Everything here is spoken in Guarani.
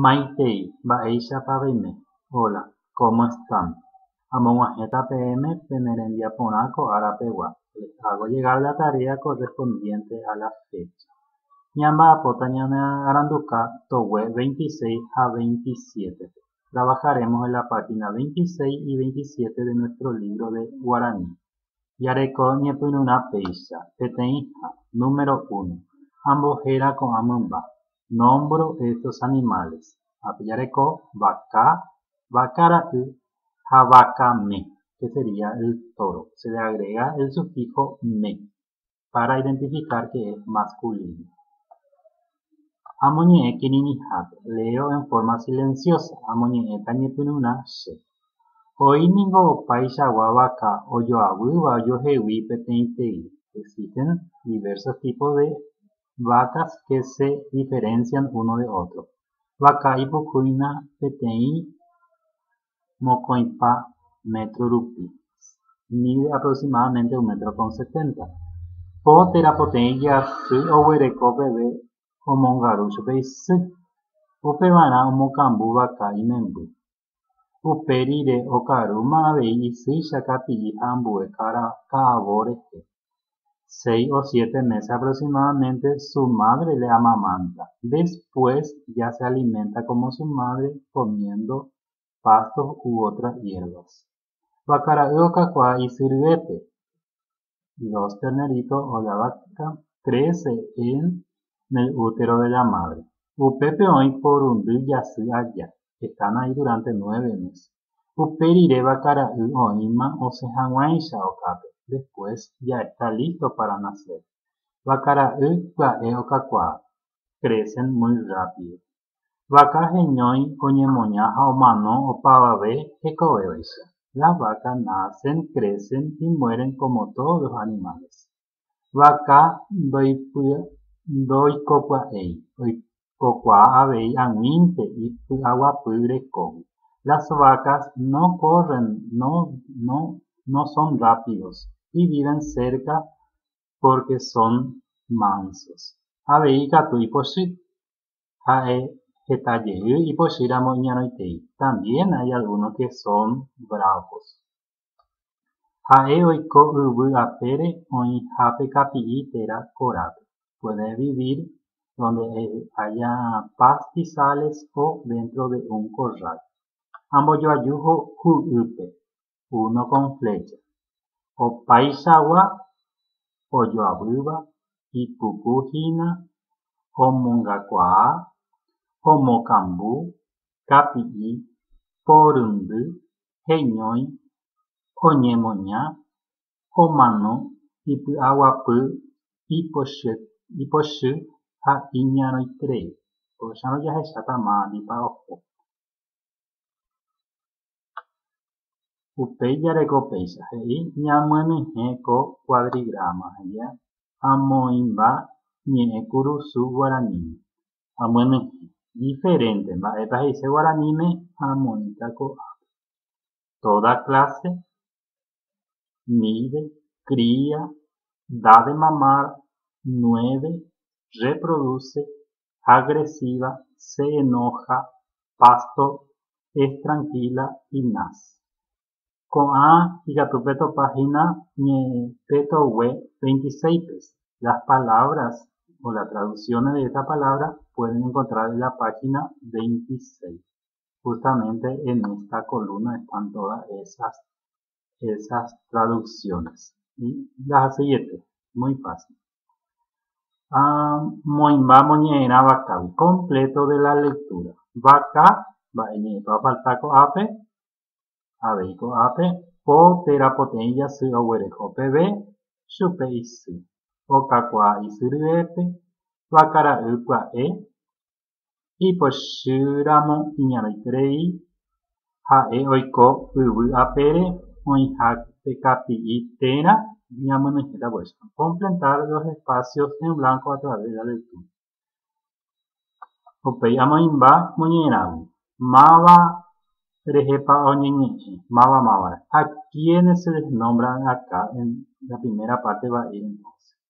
Maitei, mba'éichapa peime? Hola, cómo están? Amog̃uahẽta peẽme pene rembiaporã ko ára pegua, les hago llegar la tarea correspondiente a la fecha. Ñamba'apóta ñanearanduka togue veintiséis ha veintisiétepe. Trabajaremos en la página veintiséis y veintisiete de nuestro libro de guaraní. Jareko ñepyrũrã péicha, peteĩha, número uno, Ambohéra ko'ã mymba, nómbro estos animales, ápe jareko vaka, vaka ra'y ha vaka me, que sería el toro, se le agrega el sufijo me para identificar que es masculino. Amoñe'ẽ kirirĩhápe, leo en forma silenciosa, amoñe'ẽta ñepyrũrã che. Oĩ ningo opaichagua vaka ojoavýva ojohegui peteĩtei, existen diversos tipos de vacas que se diferencian uno de otro. Vaka ipukúina peteĩ mokõipa métro rupi, mide aproximadamente un metro con setenta. Po térã poteĩ jasy oguereko peve omongaru chupe isy. Upevarã omokambu vaka imemby. Upe rire okarúma avei isýicha kapi'i ha ambue ka'avo rehe. Seis o siete meses aproximadamente su madre le amamanta. Después ya se alimenta como su madre comiendo pastos u otras hierbas. Vakara'y okakuaa isy ryépe. dos terneritos o la vaca, trece en el útero de la madre. Upépe oĩ porundy jasy aja, están ahí durante nueve mes. Upe rire vaca ra'y oĩma osẽ hag̃uáicha okápe, después ya está listo para nacer. Vaca ra'y pya'e okakuaa, crecen muy rápido. Vaka heñói oñemoña ha omano opavave hekovévaicha. Las vacas nacen, crecen y mueren como todos los animales. Vaka ndoikopya'éi, oikokuaa avei ag̃uínte ipy'aguapy rekógui. Las vacas no corren, no son rápidos y viven cerca porque son mansos. Avei ikatu ipochy. ha'e heta jey ipochy ramo iñarõitei, también hay algunos que son bravos. Ha'e oiko yvy apére oĩha pe kapi'i térã korápe, puede vivir donde haya pastizales o dentro de un corral. Ambojoaju ho'ýpe, uno con flecha, opaichagua ojoavýva ipuku hína omongakuaa, omokambu, kapi'i, poryndy, heñói, oñemoña, omano, ipy'aguapy, ipochy, ipochy ha iñarõitrei. Ko'ág̃a jahecha tamándipa oho. Upéi jareko péicha he'i ñamyenyhẽ ko kuadrigráma ha amoĩmba ñe'ẽ kurusu guaraníme. Amyenyhẽ. Diferénte mba'épa he'ise guaraníme ha amoĩta ko'ápe. Toda kláse míve, cría, da de mamar, nueve, reproduce, agresiva, se enoja, pasto, es tranquila y naz. Ko'ã ikatu petopa hína ñe'ẽpe togue 26 pes. Las palabras o las traducciones de esta palabra pueden encontrar en la página 26. justamente en esta columna están todas esas, esas traducciones. Y las siguientes, muy fácil. Ah, moimba moñe'erã vacavi, completo de la lectura. Vaca, va'eñe'ẽpa falta ko'ápe, avei ko'ápe, po térã poteĩ jasy oguereho peve, chupe isy. Okakuaa isy ryépe, vakara'y pya'e, Ipochy ramo iñarãiterei ha'e oiko yvy apére oĩha tekapi'i térã ñamynyhẽta vuelta. Completar los espacios en blanco a través de la lectura. Upéi amoĩmba moñe'ẽrãgui. Máva rehepa oñeñe'ẽ? Máva mávarã. A quiénes se les nombra acá en la primera parte va'i entonces.